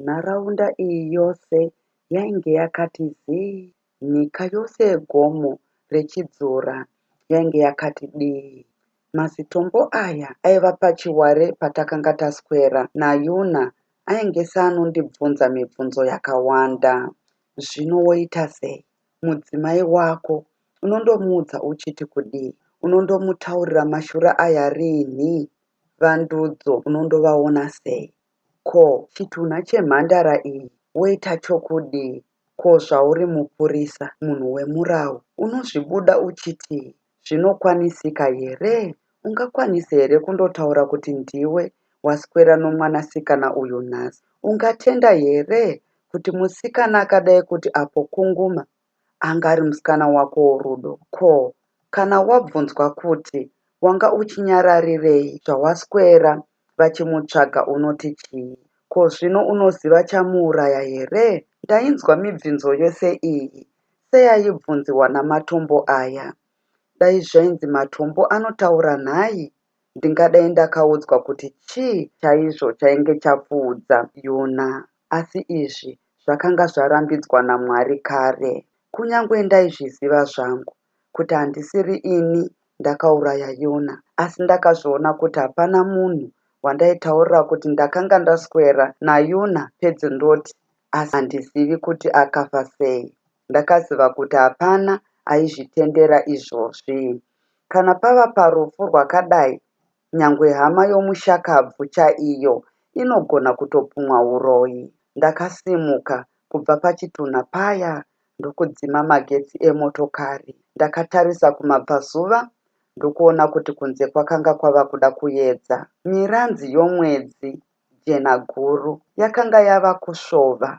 Nharaunda iyi yose yainge yakati zii, nyika yose yegomo reChidzora yainge yakati dii. Mazitombo aya aiva pachiware patakanga taswera naYuna ainge seanondibvunza mibvunzo yakawanda. Zvino woita sei? Mudzimai wako unondomuudza uchiti kudii? Unondomutaurira mashura aya rinhi? VaNdudzo unondovaona sei? Ko chitunha chemhandara iyi woita chokudii ko zvauri mupurisa munhu wemurawu unozvibuda uchitii zvinokwanisika here ungakwanise here kundotaura kuti ndiwe waswera nomwanasikana uyu nhasi ungatenda here kuti musikana akadai kuti apo kunguma Anga ari musikana wakowo Rudo ko kana wabvunzwa kuti wanga uchinyararirei zvawaswera vachimutsvaga unoti chii? Ko zvino unoziva chamuuraya here? Ndainzwa mibvinzo yose iyi seyaibvunziwa naMatombo aya. Dai zvainzi Matombo anotaura nhai Ndingadai ndakaudzwa kuti chii chaizvo chainge chapfuudza Yuna, asi izvi zvakanga zvarambidzwa naMwari kare. Kunyange ndaizviziva zvangu kuti handisiri ini ndakauraya Yuna, asi ndakazviona kuti hapana munhu wandaitaurira kuti ndakanga ndaswera naYuna pedyo ndoti, Asi handizivi kuti akafa sei. Ndakaziva kuti hapana aizvitendera izvozvi. Kana pava parufu rwakadai, nyangwe hama yomushakabvu chaiyo inogona kutopumwa uroyi. Ndakasimuka kubva pachitunha paya ndokudzima magetsi emotokari. Ndakatarisa kumabvazuva ndokuona kuti kunze kwakanga kwava kuda kuyedza. Miranzi yomwedzi, jena guru, yakanga yava kusvova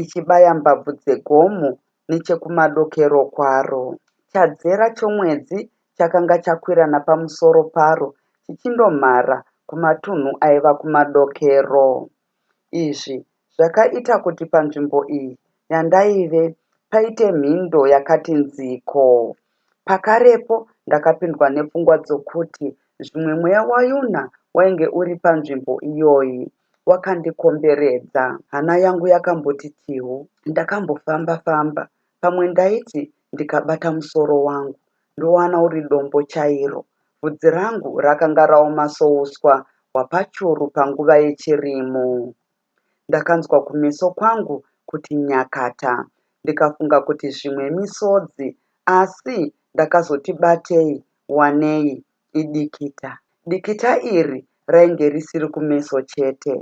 ichibaya mbabvu dzegomo nechekumadokero kwaro. Chadzera chomwedzi chakanga chakwira napamusoro paro chichindomhara kumatunhu aiva kumadokero. Izvi zvakaita kuti panzvimbo iyi yandaive paite mhindo yakati nziko. Pakarepo ndakapindwa nepfungwa dzokuti zvimwe mweya waYuna wainge uri panzvimbo iyoyi. wakandikomberedza. Hana yangu yakamboti tihu. Ndakambofamba famba pamwe ndaiti ndikabata musoro wangu ndowana uri dombo chairo. Vhudzi rangu rakanga raoma souswa hwapachuru panguva yechirimo. Ndakanzwa kumeso kwangu kuti nyakata ndikafunga kuti zvimwe misodzi asi ndakazoti batei wanei idikita. Dikita iri rainge risiri kumeso chete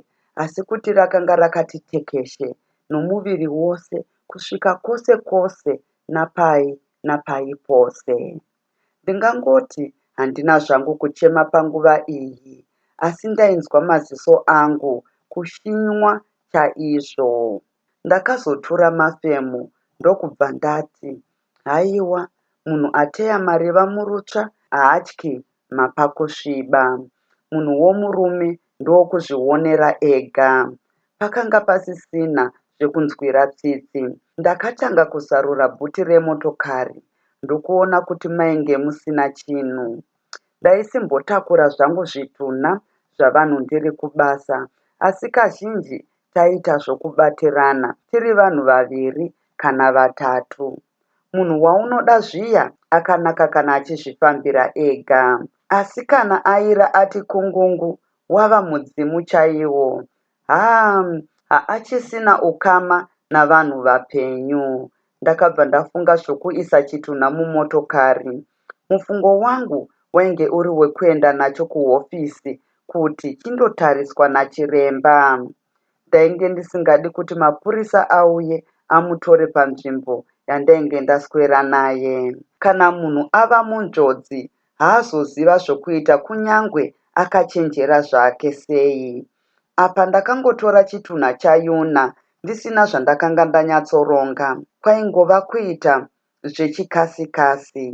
asi kuti rakanga rakati tekeshe nomuviri wose kusvika kwose kwose napai napai pose. Ndingangoti handina zvangu kuchema panguva iyi asi ndainzwa maziso angu kushinywa chaizvo. Ndakazotura mafemo ndokubva ndati, Haiwa, munhu ateya mariva murutsva haatyi mapa kusviba. Munhu womurume ndowokuzvionera ega. Pakanga pasisina zvekunzwira tsitsi. Ndakatanga kuzarura bhuti remotokari ndokuona kuti mainge musina chinhu. Ndaisimbotakura zvangu zvitunha zvavanhu ndiri kubasa asi kazhinji taita zvokubatirana tiri vanhu vaviri kana vatatu. Munhu waunoda zviya akanaka kana achizvifambira ega. Asi kana aira ati kungungu wava mudzimu chaiwo. Haa haachisina ukama navanhu vapenyu. ndakabva ndafunga zvokuisa chitunha mumotokari. Mufungo wangu wainge uri wekuenda nacho kuhofisi kuti chindotariswa nachiremba. Ndainge ndisingadi kuti mapurisa auye amutore panzvimbo yandainge ndaswera naye. Kana munhu ava munjodzi haazoziva zvokuita kunyangwe akachenjera zvake sei. Apa ndakangotora chitunha chaYuna ndisina zvandakanga ndanyatsoronga, kwaingova kuita zvechikasi-kasi.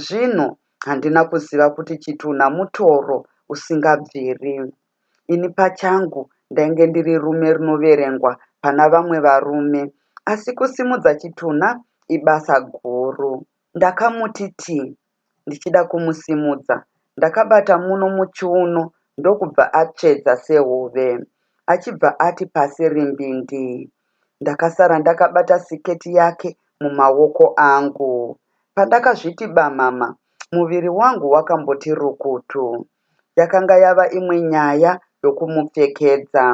Zvino handina kuziva kuti chitunha mutoro usingabviri. Ini pachangu ndainge ndiri rume rinoverengwa pana vamwe varume, asi kusimudza chitunha ibasa guru. Ndakamuti tii ndichida kumusimudza ndakabata muno muchiuno ndokubva atsvedza sehove achibva ati pasi rimbindii. Ndakasara ndakabata siketi yake mumaoko angu. Pandakazviti bamama muviri wangu wakamboti rukutu. Yakanga yava imwe nyaya yokumupfekedza.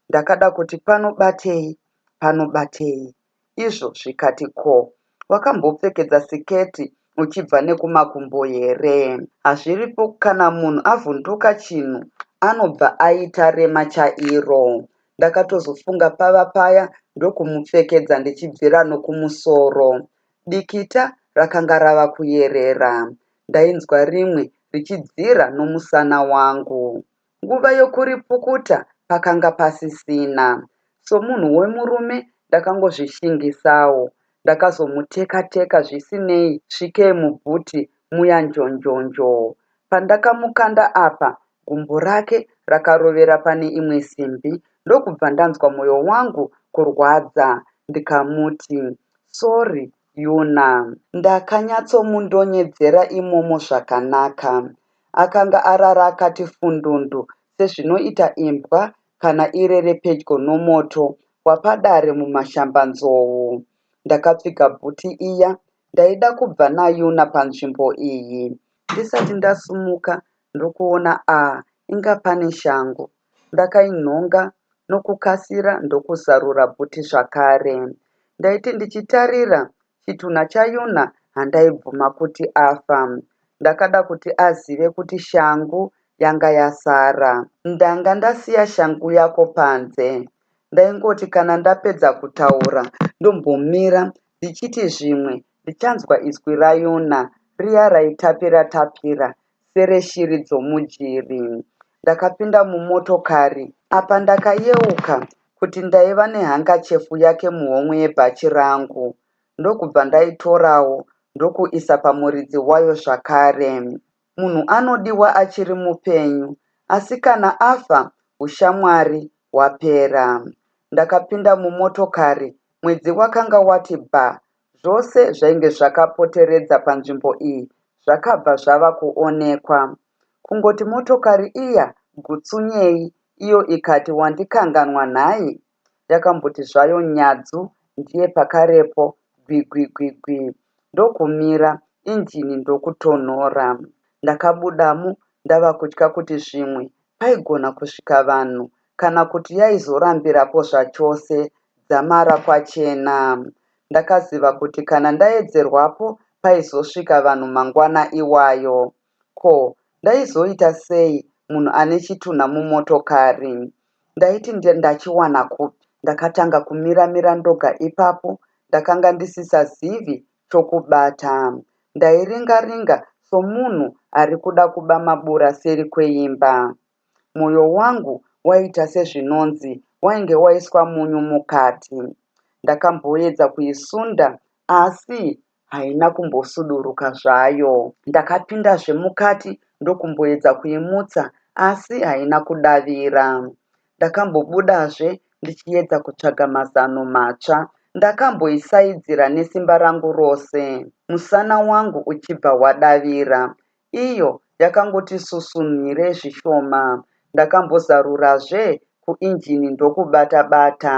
Ndakada kuti pano batei, pano batei, izvo zvikati ko wakambopfekedza siketi uchibva nekumakumbo here. Hazviripo kana munhu avhunduka chinhu anobva aita rema chairo. Ndakatozofunga pava paya ndokumupfekedza ndichibvira nokumusoro. Dikita rakanga rava kuyerera. Ndainzwa rimwe richibvira nomusana wangu. Nguva yokuripukuta pakanga pasisina. Somunhu wemurume ndakangozvishingisawo. Ndakazomuteka teka zvisinei svikei muboot muya njonjonjoo. Pandakamukanda apa gumbo rake rakarovera pane imwe simbi ndokubva ndanzwa moyo wangu kurwadza ndikamuti sorry Yuna. Ndakanyatsomundonyedzera imomo zvakanaka Akanga arara akati fundundu sezvinoita imbwa kana irere pedyo nomoto wapadare muMashambanzou. Ndakapfiga bhuti iya ndaida kubva naYuna panzvimbo iyi. Ndisati ndasumuka ndokuona ah inga pane shangu. Ndakainhonga nokukasira ndokuzarura bhuti zvakare. Ndaiti ndichitarira chitunha chaYona handaibvuma kuti afa. Ndakada kuti azive kuti shangu yanga yasara. Ndanga ndasiya shangu yako panze. Ndaingoti kana ndapedza kutaura ndombomira ndichiti zvimwe ndichanzwa izwi raYona riya raitapira tapira sereshiri dzomujeri. Ndakapinda mumotokari apa ndakayeuka kuti ndaiva nehankachefu yake muhomwe yebhachi rangu ndokubva ndaitorawo ndokuisa pamuridzi wayo zvakare. Munhu anodiwa achiri mupenyu asi kana afa ushamwari hwapera. Ndakapinda mumotokari mwedzi wakanga wati bha Zvose zvainge zvakapoteredza panzvimbo iyi zvakabva zvava kuonekwa. Kungoti motokari iya gutsunyei iyo ikati wandikanganwa nhai? Yakamboti zvayo nyadzu ndiye pakarepo gwigwigwigwi ndokumira injini ndokutonhora. Ndakabudamo ndava kutya kuti zvimwe paigona kusvika vanhu kana kuti yaizorambirapo zvachose. Dzamara kwachena. Ndakaziva kuti kana ndaedzerwapo paizosvika vanhu mangwana iwayo. Ko, ndaizoita sei munhu ane chitunha mumotokari? Ndaiti ndachiwana kupi? Ndakatanga kumira-mira ndoga ipapo, ndakanga ndisisazivi chokubata. Ndairinga-ringa somunhu ari kuda kuba mabura seri kweimba. Moyo wangu waiita sezvinonzi wainge waiswa munyu mukati. Ndakamboedza kuisunda asi haina kumbosuduruka zvayo. Ndakapindazve mukati ndokumboedza kuimutsa asi haina kudavira. Ndakambobudazve ndichiedza kutsvaga mazano matsva. Ndakamboisaidzira nesimba rangu rose musana wangu uchibva wadavira. Iyo yakangoti susunhire zvishoma. Ndakambozarurazve kuinjini ndokubata bata.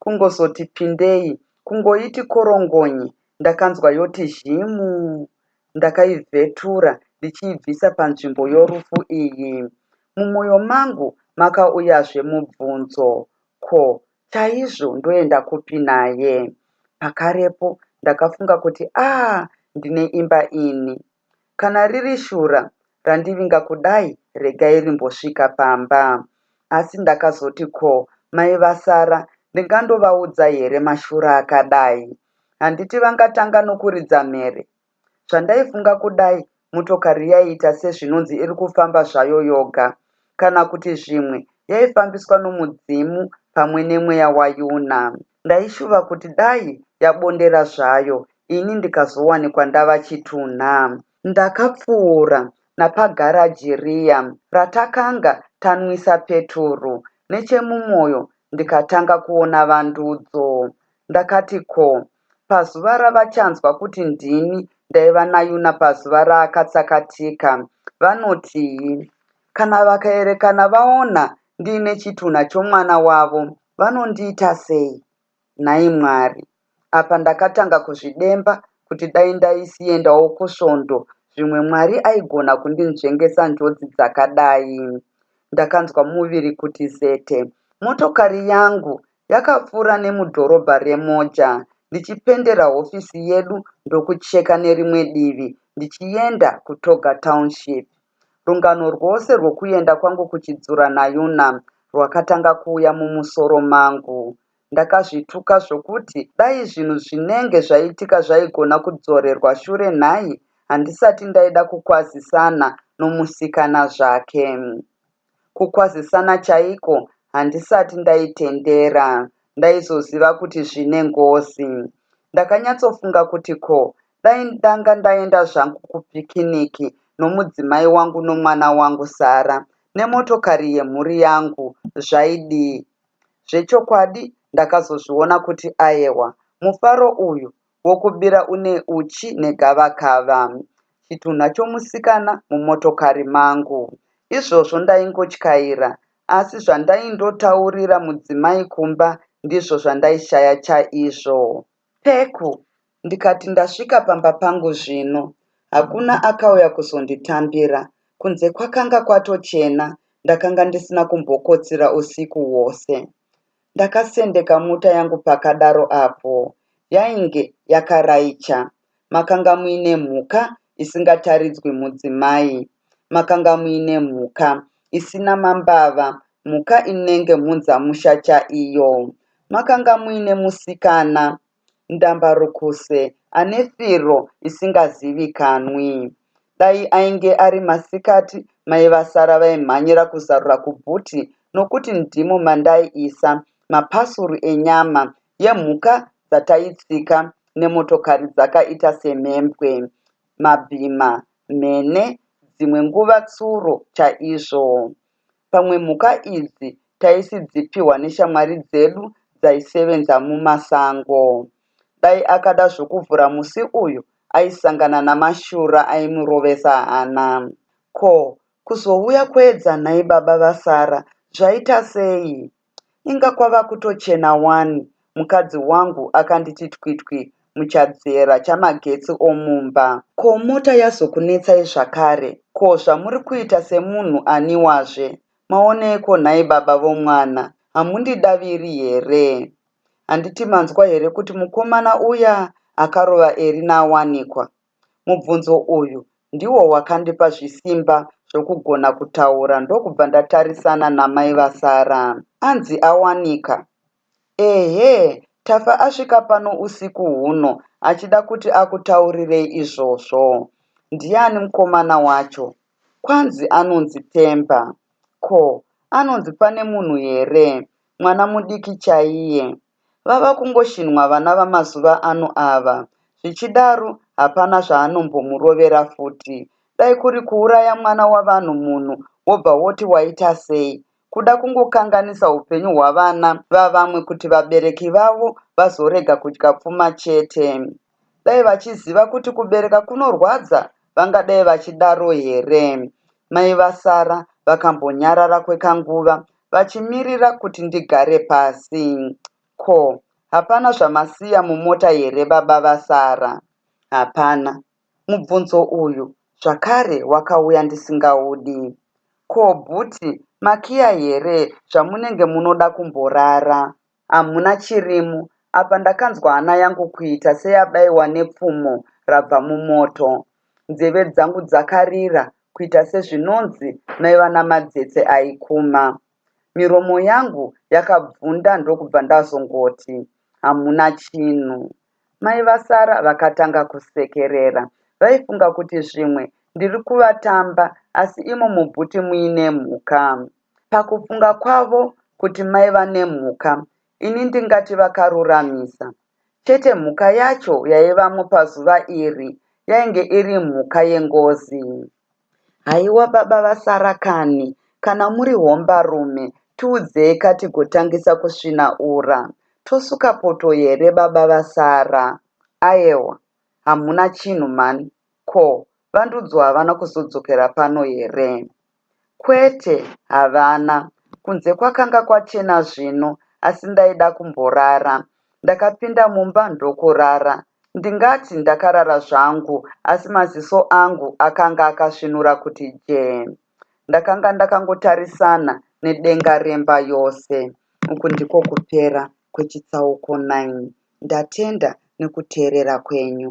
Kungozoti pindei, kungoiti korongonye ndakanzwa yoti zhimu. Ndakaivhetura ndichiibvisa panzvimbo yorufu iyi. Mumoyo mangu makauyazve mubvunzo, ko chaizvo ndoenda kupi naye? Pakarepo ndakafunga kuti ah ndine imba ini. Kana riri shura randivinga kudai regai rimbosvika pamba. Asi ndakazoti ko mai vasara ndingandovaudza here mashura akadai. Handiti vangatanga nokuridza mhere. Zvandaifunga kudai motokari yaiita sezvinonzi iri kufamba zvayo yoga. Kana kuti zvimwe yaifambiswa nomudzimu pamwe nemweya waYuna. ndaishuva kuti dai yabondera zvayo ini ndikazowanikwa ndava chitunha. Ndakapfuura napagaraji riya ratakanga tanwisa peturu nechemumoyo ndikatanga kuona vandudzo. Ndakati ko pazuva ravachanzwa kuti ndini ndaiva naYuna pazuva raakatsakatika vanotii? Kana vakaerekana vaona ndiine chitunha chomwana wavo vanondiita sei? Nhai Mwari! Apa ndakatanga kuzvidemba kuti dai ndaisiendawo kusvondo zvimwe Mwari aigona kundinzvengesa njodzi dzakadai. Ndakanzwa muviri kuti zete. Motokari yangu yakapfuura nemudhorobha reMoja ndichipendera hofisi yedu ndokucheka nerimwe divi ndichienda kuToga Township. Rungano rwose rwokuenda kwangu kuChidzura naYuna rwakatanga kuuya mumusoro mangu. Ndakazvituka zvokuti dai zvinhu zvinenge zvaitika zvaigona kudzorerwa shure nhai handisati ndaida kukwazisana nomusikana zvake. Kukwazisana chaiko handisati ndaitendera, ndaizoziva kuti zvine ngozi. Ndakanyatsofunga kuti ko dai ndanga ndaenda zvangu kupikiniki nomudzimai wangu nomwana wangu Sara nemotokari yemhuri yangu zvaidii? Zvechokwadi ndakazozviona kuti ayewa, mufaro uyu wokubira une uchi negavakava, chitunha chomusikana, mumotokari mangu. Izvozvo ndaingotyaira, asi zvandaindotaurira mudzimai kumba ndizvo zvandaishaya chaizvo. Peku, ndikati ndasvika pamba pangu zvino. Hakuna akauya kuzonditambira. Kunze kwakanga kwatochena, ndakanga ndisina kumbokotsira usiku hwose. Ndakasendeka mota yangu pakadaro apo yainge yakaraicha. Makanga muine mhuka isingataridzwi mudzimai. Makanga muine mhuka isina mambava, mhuka inenge mhunzamusha chaiyo. Makanga muine musikana Ndambarukuse ane firo isingazivikanwi. Dai ainge ari masikati mai vasara vaimhanyira kuzarura kubhuti nokuti ndimo mandaiisa mapasuru enyama yemhuka dzataitsika nemotokari dzakaita semhembwe, mabhima, mhene, dzimwe nguva tsuro chaizvo. Pamwe mhuka idzi taisidzipihwa neshamwari dzedu dzaisevenza mumasango. Dai akada zvokuvhura musi uyu aisangana namashura aimurovesa hana. Ko, kuzouya kweEdza nhai baba vaSarah zvaitasei? Inga kwava kutochena wani, mukadzi wangu akanditi twitwi muchadzera chamagetsi omumba. Ko mota yazokunetsai zvakare? Ko zvamuri kuita semunhu aniwazve? Maoneiko nhai baba vomwana? Hamundidaviri here? Handiti manzwa here kuti mukomana uya akarova Erinaawanikwa? Mubvunzo uyu ndiwo wakandipa zvisimba zvokugona kutaura ndokubva ndatarisana namai vasara. Anzi awanika? Ehe, Tafa asvika pano usiku huno achida kuti akutaurirei izvozvo. Ndiani mukomana wacho? Kwanzi anonzi Themba. Ko, anonzi pane munhu here? Mwana mudiki chaiye. Vava kungoshinhwa vana vamazuva ano ava. Zvichidaro hapana zvaanombomurovera futi. Dai kuri kuuraya mwana wavanhu munhu wobva woti waita sei. Kuda kungokanganisa upenyu hwavana vavamwe kuti vabereki vavo vazorega kudya pfuma chete. Dai vachiziva kuti kubereka kunorwadza vangadai vachidaro here? Mai vaSara vakambonyarara kwekanguva vachimirira kuti ndigare pasi. Ko, hapana zvamasiya mumota here baba vaSara? Hapana. Mubvunzo uyu zvakare wakauya ndisingaudi. Ko bhuti makiya here zvamunenge munoda kumborara? hamuna chirimu apa ndakanzwa hana yangu kuita seyabaiwa nepfumo rabva mumoto nzeve dzangu dzakarira kuita sezvinonzi maiva namadzetse aikuma miromo yangu yakabvunda ndokubva ndazongoti hamuna chinhu mai vasara vakatanga kusekerera vaifunga kuti zvimwe ndiri kuvatamba asi imo mubhuti muine mhuka Pakufunga kwavo kuti maiva nemhuka, ini ndingati vakaruramisa. Chete mhuka yacho yaivamo pazuva iri yainge iri mhuka yengozi. Haiwa baba vasara kani, kana muri hombarume tiudzeyika tigotangisa kusvina ura. Tosuka poto here baba vasara? Aewa, hamuna chinhu mhani. Ko, VaNdudzo havana kuzodzokera pano here? Kwete, havana. Kunze kwakanga kwachena zvino, asi ndaida kumborara. Ndakapinda mumba ndokurara. Ndingati ndakarara zvangu, asi maziso angu akanga akasvinura kuti jee. Ndakanga ndakangotarisana nedenga remba yose. Uku ndiko kupera kwechitsauko 9. Ndatenda nekuteerera kwenyu.